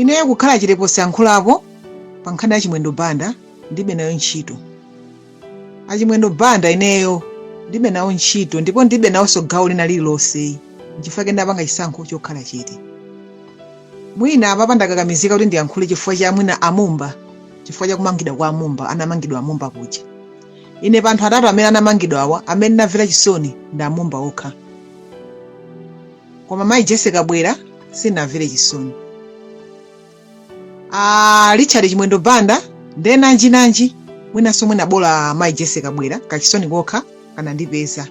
Ineyo kukhala chete posyankhulapo pa nkhani ya Chimwendo Banda ndilibe nayo ntchito. A Chimwendo Banda ineyo ndilibe nawo ntchito ndipo ndilibe nawonso gawo lina lililonse nchifukwa chake ndapanga chisankho chokhala chete. Mwina apapa ndakakamizika kuti ndiyankhule chifukwa cha mwina a Mumba chifukwa cha kumangidwa kwa a Mumba, anamangidwa a Mumba kuja. Ine pa anthu atatu amene anamangidwawa amene ndinamvera chisoni ndi a Mumba okha. koma mayi jese kabwila sindinawamvere chisoni a richard chimwendo banda nde nanji nanji mwinanso mwina bola mayi jese kabwila kachisoni kokha kanandipeza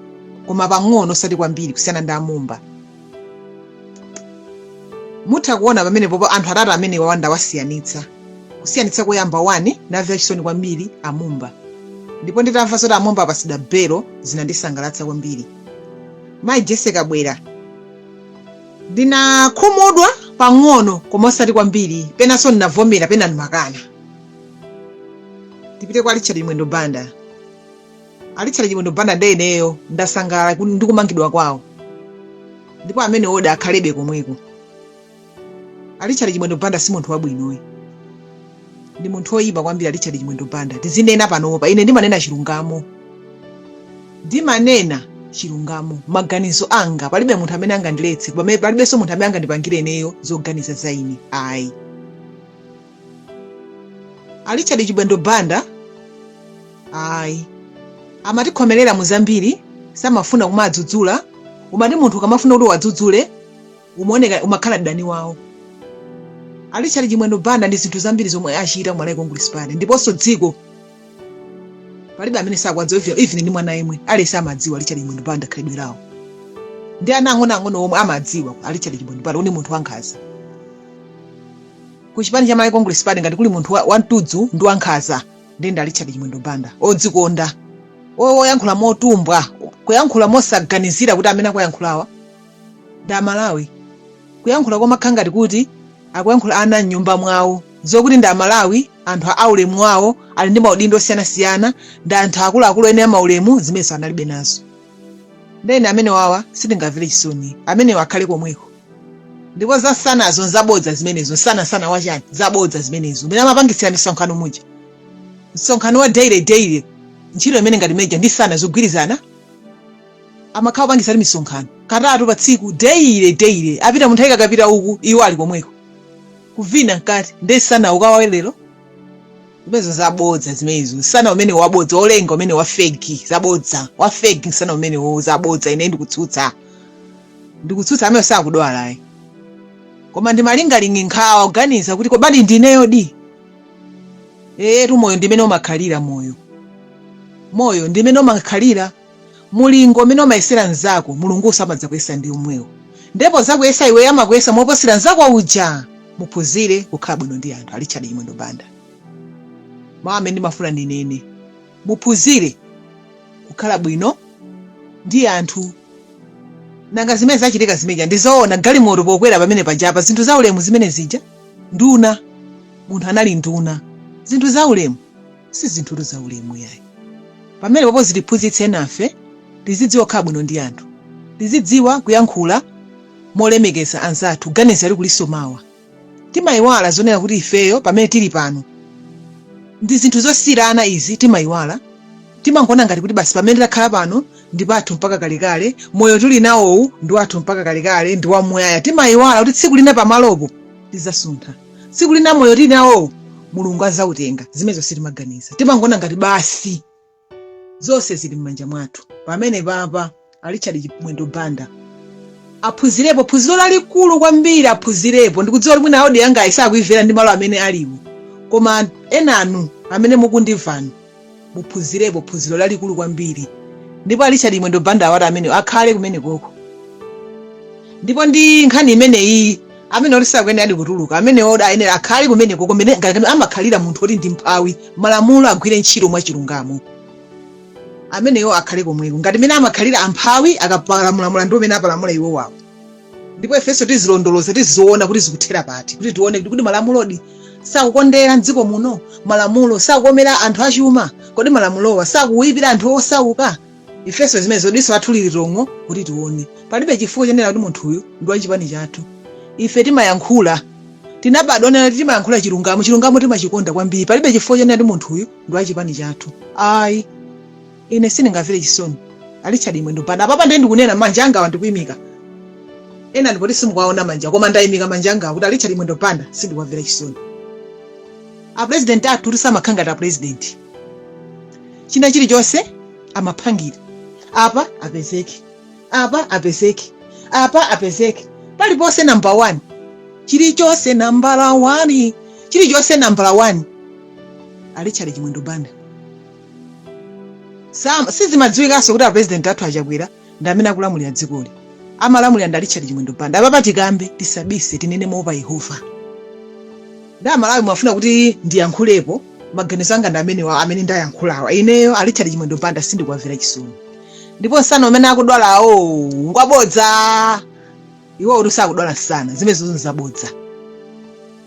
koma pang'ono osati kwambiri kusiyana ndi amumba mutha kuona pamenepopo anthu atatu amenewawa ndawasiyanitsa kusiyanitsa koyamba wani ndinamvera chisoni kwambiri amumba ndipo nditamva zoti amumba apatsidwa belo zinandisangalatsa kwambiri mayi jese kabwila ndinakhumudwa pang'ono koma osati kwambiri penanso ndinavomera pena ndimakana tipite kwa richard chimwendo banda a richard chimwendo banda nde ineyo ndasangalala ku- ndi kumangidwa kwawo ndipo ameneyo nde akhalebe komweko Richard Chimwendo Banda si munthu wabwinoyi ndi munthu woyipa kwambiri Richard Chimwendo Banda tizinena panopa ine ndimanena chilungamo ndimanena chilungamo maganizo anga palibe munthu amene angandiletse palibenso munthu amene angandipangire ineyo zoganiza za ine ayi a Richard Chimwendo Banda ayi amatikhomerera mu zambiri samafuna kumadzudzulidwa umati munthu ukamafuna kuti uwadzudzule umaoneka umakhala mdani wawo a richard chimwendo banda ndi zinthu zambiri zomwe achita ku malawi congress party ndiponso dziko palibe amene sakwadziwa even- even ndi mwana yemwe aliyense amadziwa richard chimwendo banda khalidwe lawo ndi ana ang'onoang'ono omwe amadziwa a richard chimwendo banda kuti ndi munthu wankhaza ku chipani cha malawi congress party ngati kuli munthu wa- wamtudzu ndi wankhaza ndi ndi a richard chimwendo banda odzikonda oyankhula motumbwa kuyankhula mosaganizira kuti amene akuwayankhulawa ndi amalawi kuyankhula kumakhala ngati kuti akuyankhula ana mnyumba mwawo zokuti ndi amalawi anthu a aulemu wawo ali ndi maudindo osiyanasiyana ndi anthu akuluakulu eni a maulemu zimenenso analibe nazo ndene amenewawa sitingamvere chisoni amenewo akhale komweko ndipo za msanazo nzabodza zimenezo msana msana wachani zabodza zimenezo umene amapangitsira misonkhano muja msonkhano wa daily daily ntchito imeneyo ngati meja ndi msana zogwirizana amakhala opangitsa timisonkhano katatu pa tsiku daily daily apite munthawi kakapita uku iwo ali komweko kuvina mkati nde nsana ukawawe lero zimenezo zabodza zimenezo nsana umene wabodza olenga umene wafegi zabodza wafegi nsana umene wo zabodza ine ndikutsutsa ndikutsutsa amene sakudwalayi koma ndi malingaliro nkhawa kuganiza kuti kobadi ndineyo di eyetu moyo ndimene umakhalira moyo moyo ndimene umakhalira Mulingo umene umayesera nzako Mulungunso amadzakuyesa ndi umwewo nde pozakuyesa iweyo amakuyesa moposera nzako uja muphunzire kukhala bwino ndi anthu a Richard Chimwendo Banda mawu amene ndimafuna ndinene muphunzire kukhala bwino ndi anthu nanga zimene zachitika zimene zija ndizoona galimoto pokwera pamene pajapa zinthu za ulemu zimene zija nduna munthu anali nduna zinthu za ulemu si zinthutu za ulemu yayi pamene papo zitiphunzitse nafe tizidziwa kukhala bwino ndi anthu tizidziwa kuyankhula molemekeza anzathu kuganiza kuti kulinso mawa timayiwala zonena kuti ifeyo pamene tili pano ndi zinthu zosiyirana izi timayiwala timangoona ngati kuti basi pamene takhala pano ndi pathu mpaka kalekale moyo tili nawowu ndi wathu mpaka kalekale ndi wamuyaya timayiwala kuti tsiku lina pamalopo tizasuntha tsiku lina moyo tili nawowo Mulungu azautenga zimenezo sitimaganiza timangoona ngati basi zonse zili m'manja mwathu pamene papa a Richard Chimwendo Banda aphunzirepo phunziro lalikulu kwambiri aphunzirepo ndikudziwa kuti mwina audio yangayi sakuimvera ndi malo amene aliwo koma enanu amene mukundimvanu muphunzirepo phunziro lalikulu kwambiri ndipo a Richard Chimwendo Banda awati amenewo akhale kumenekoko ndipo ndi nkhani imeneyi amene oti sakuyeneradi kutuluka amene oti ayenera akhale kumenekoko mene ngati amakhalira munthu oti ndi mphawi malamulo agwire ntchito mwachilungamo amenewo akhale komweko ngati mene amakhalira amphawi akapalamula mulandu umene apalamula iwo wawo ndipo ifenso tizilondoloza tiziona kuti zikuthera pati kuti tione kuti kodi malamulodi sakukondera mdziko muno malamulo sakukomera anthu achuma kodi malamulowa sakuwipira anthu osauka ifenso zimenezo diso lathu lili tong'o kuti tione palibe chifukwa chonena kuti munthu uyu ndi wa chipani chathu ife timayankhula tinabadwa nena kuti timayankhula chilungamo chilungamo timachikonda kwambiri palibe chifukwa chonena kuti munthu uyu ndi wa chipani chathu ayi ine sindingamvere chisoni a Richard Chimwendo Banda apapa ndiye ndikunena manja angawa ndikuimika kaya ndi poti simukuwaona manja koma ndaimika manja angawa kuti a Richard Chimwendo Banda sindikuwamvera chisoni apurezidenti athu amakhala ngati apurezidenti china chilichonse amaphangira apa apezeke apa apezeke apa apezeke paliponse nambala 1 chilichonse nambala 1 chilichonse nambala 1 a Richard Chimwendo Banda Sizimadziwikanso kuti apurezidenti athu achakwera ndi amene akulamulira dzikoli amalamulira ndi richard chimwendo banda apapa tikambe tisabise tinene moopa yehova ndi amalawi mwafuna kuti ndiyankhulepo maganizo anga ndi amenewa amene ndayankhulawa ineyo a richard chimwendo banda sindikwamvera chisoni ndipo nsana umene akudwala awo ngwabodza iwowo kuti sakudwala msana zimenezo nzabodza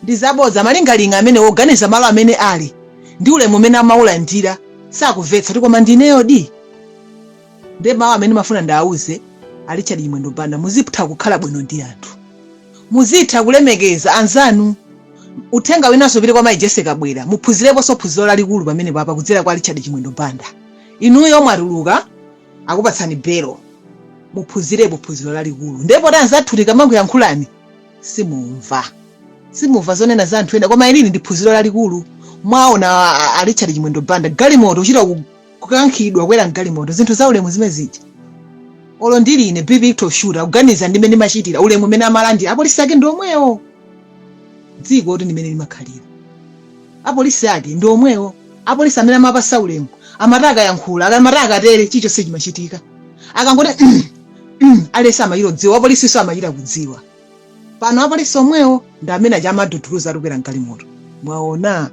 ndi zabodza malinga ndi mmene akuganiza malo amene ali ndi ulemu umene amaulandira sakuvetsa kuti koma ndi ineyodi nde mawu amene ndimafuna ndiwauze a richard chimwendo banda muzitha kukhala bwino ndi anthu muzitha kulemekeza anzanu uthenga winanso upite kwa mayi jessie kabwila muphunzireponso phunziro lalikulu pamenepapa kudzera kwa richard chimwendo banda inuyo mwatuluka akupatsani belo muphunzirepo phunziro lalikulu ndiye poti anzathu tikamakuyankhulani simumva simumva zonena za anthu ena koma ilili ndi phunziro lalikulu mwaona a richard chimwendo banda galimoto kuchita ku- kukankhidwa kwera mgalimoto zinthu za ulemu zimenezija olo ndili ine bvuto shuwa kuganiza ndi mmene ndimachitira ulemu umene amalandira apolisi ake ndi omwewo dzikotu ndi mmene limakhalira apolisi ake ndi omwewo apolisi amene amawapasa ulemu amati akayankhula aka- amati akatere chilichonse chimachitika akangoti mm, mm, aliyense amachita kudziwa wapolisinso amachita kudziwa pano apolisi omwewo ndi amene aja amawaduduluza ati kwera mgalimoto mwaona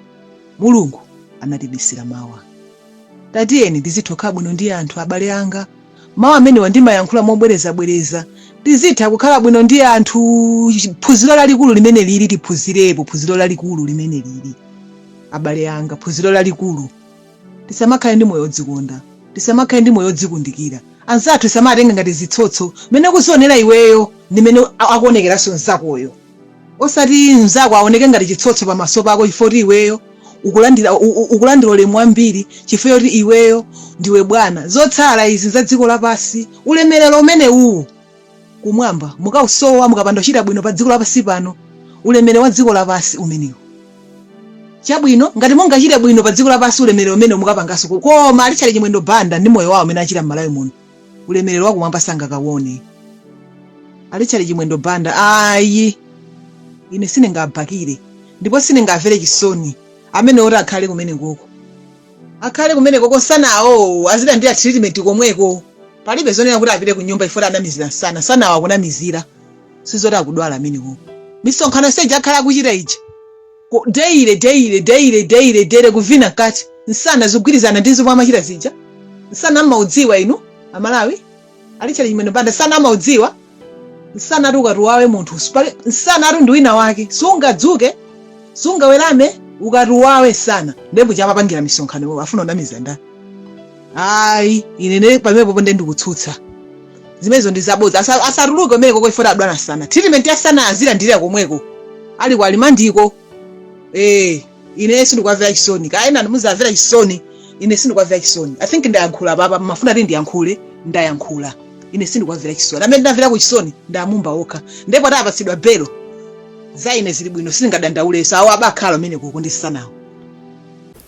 mulungu anatibisira mawa Tatiyeni tizitha kukhala bwino ndi anthu abale anga. Mawu amenewa ndimayankhula mobwerezabwereza. Tizitha kukhala bwino ndi anthu. Phunziro lalikulu limenelili tiphunzirepo phunziro lalikulu limenelili. Abale anga, phunziro lalikulu. Tisamakhale ndi moyo odzikonda. Tisamakhale ndi moyo odzikundikira. Anzathu tisamawatenge ngati zitsotso. Mmene ukuzionera iweyo ndi mmene akuonekeranso mnzakoyo. Osati mzako awoneke ngati chitsotso pamaso pako chifukwa kuti iweyo ukulandira, u, u, ukulandira ulemu wambiri chifukwa choti iweyo ndiwe bwana. Zotsala izi za dziko lapansi. Ulemerero umenewuu Kumwamba mukausowa mukapanda kuchita bwino pa dziko lapansi pano. Ulemerero wa dziko lapansi umenewu. Chabwino, ngati mungachite bwino pa dziko lapansi ulemerero umenewu mukaupezanso uku. Koma a Richard Chimwendo Banda ndi moyo wao umene amachita m'Malawi muno. ulemerero wakumwamba sangakawone a richard chimwendo banda ayi ine sindingawabhakire ndipo sindingawamvere chisoni amene oti akhale kumene koko akhale kumene koko msanawo azilandira treatment komweko palibe zonena kuti apite ku nyumba chifukwa choti anamizira nsana msanawo akunamizira sizoti akudwala amenewo misonkhano yonse ija akhala akuchita ija Ku- daily daily daily daily daily kuvina mkati nsana zikugwirizana ndi zomwe amachita zija nsana amaudziwa inu Amalawi Richard Chimwendo Banda nsana amaudziwa nsana ati ukakuwawe munthu sipali- nsana ati ndi wina wake sungadzuke sungawerame ukakuwawe nsana ndipo chomapangira misonkhano akufuna kunamiza ndani ayi ine pamenepopo nde ndikutsutsa zimenezo ndi zabodza Asa- asatuluke umene koko ifota adwala nsana treatment ya nsana azilandira komweko ali ku limandiko eh ine sindikuwamvera chisoni kapena ndizawamvera chisoni ine sindikuwamvera chisoni I think ndayankhula paja mumafuna kuti ndiyankhule ndayankhula ine sindikuwamvera chisoni amene ndinamverako chisoni ndi a Mumba okha ndipo atapatsidwa belo za ine zili bwino sindingadandauleso awo azibakhala komweko ndi nsanawo